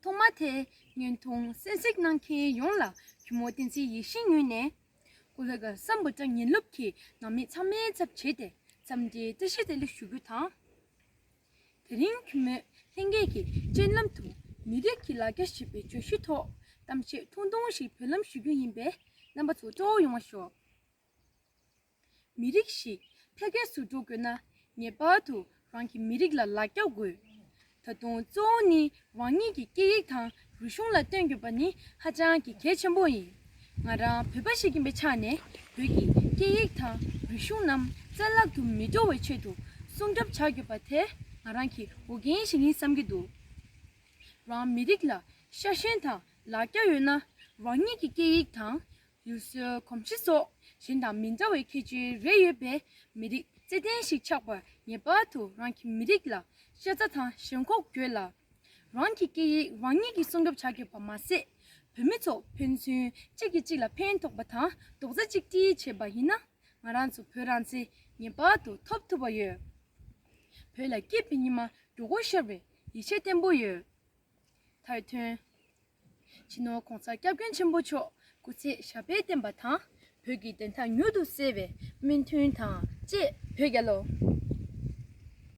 ཐོག་མ་དེ་ཉིད་དུང་གསལ་གཟིགས་གནང་མཁན་ཡོངས་ལ་གུས་མོ་བསྟན་འཛིན་ཡིད་བཞིན་ཉོས་ནས། སྐུ་ལྷག་བསམ་འབོ་ཀྲང་ཉིན་སློབ་ཀྱི་ནང་མི་ཚང་མའི་ཚབ་བྱས་ཏེ་འཚམས་འདྲིའི་བཀྲ་ཤིས་བདེ་ལེགས་ཞུ་རྒྱུ་དང། དེ་རིང་གུས་མོས་ལྷན་རྒྱས་ཀྱི་སྤྱན་ལམ་དུ་མི་རིགས་ཀྱི་ལ་རྒྱ་ཞེས་པའི་བརྗོད་གཞི་ཐོག་གཏམ་བཤད་ཐུང་ཐུང་ཞིག་བོད་ལམ་ཞུ་རྒྱུ་ཡིན་པས་རྣམ་པ་ཚོ་སྤྲོ་བོ་ཡོང་བ་ཤོག། མི་རིགས་ཤིག་འཕེལ་རྒྱས་སུ་འགྲོ་དགོས་ན་ངེས་པར་དུ་རང་གི་མི་རིགས་ལ་ལག་རྒྱག་དགོས། ད་དུང་གཙོ་བོ་ནི་རང་ཉིད་ཀྱི་སྐད་ཡིག་དང་རིག་གཞུང་ལ་བརྟེན་དགོས་པ་ནི་ཧ་ཅང་གི་གལ་ཆེན་པོ་ཡིན། ང་རང་བོད་པ་ཞིག་ཡིན་པའི་ཆ་ནས་བོད་ཀྱི་སྐད་ཡིག་དང་རིག་གཞུང་རྣམས་བཙན་བརླག་ཏུ་མི་འགྲོ་བའི་ཆེད་དུ་སྲུང་སྐྱོབ་བྱ་དགོས་པ་དེ་ང་རང་གི་འོས་འགན་ཞིག་ཡིན་བསམ་གྱི་འདུག་རང་མི་རིགས་ལ་ཤ་ཞེན་དང་ལག་རྒྱ་ཡོད་ན་རང་ཉིད་ཀྱི་སྐད་ཡིག་དང། ཡུལ་སྲོལ་གོམས་གཤིས་སོགས་གཞན་དང་མི་འདྲ་བའི་ཁྱད་ཆོས་རེ་ཡོད་པའི་མི་རིགས་རྩེད་ལྡན་ཞིག་ཆགས་པར་ངེས་པར་དུ་རང་གི་མི་རིགས་ལ་ཤ་ཚ་དང་ཞེན་ཁོག་དགོས་ལ། རང་གི་སྐད་ཡིག་རང་ཉིད་ཀྱིས་སྲུང་སྐྱོབ་བྱ་དགོས་པར་མ་ཟད། བོད་མི་ཚོ་ཕན་ཚུན་གཅིག་གིས་གཅིག་ལ་ཕན་ཐོགས་པ་དང་རྡོག་རྩ་གཅིག་སྒྲིལ་བྱས་པ་ཡིན་ན་ང་རང་ཚོ་བོད་རང་བཙན་ངེས་པར་དུ་ཐོབ་ཐུབ་པ་ཡོད། བོད་ལ་སྐྱིད་པའི་ཉི་མ་འགྲོ་སྒོ་ཤར་བའི་ཡིད་ཆེས་བརྟན་པོ་ཡོད། མཐར་ཐོན། སྤྱི་ནོར ྋགོང་ས་སྐྱབས་མགོན་ཆེན་པོ་མཆོག་སྐུ་ཚེ་ཞབས་པད་བརྟན་པ་དང་བོད་ཀྱི་བདེན་མཐའ་མྱུར་དུ་གསལ་བའི་སྨོན་འདུན་དང་བཅས་བོད་རྒྱལ་ལོ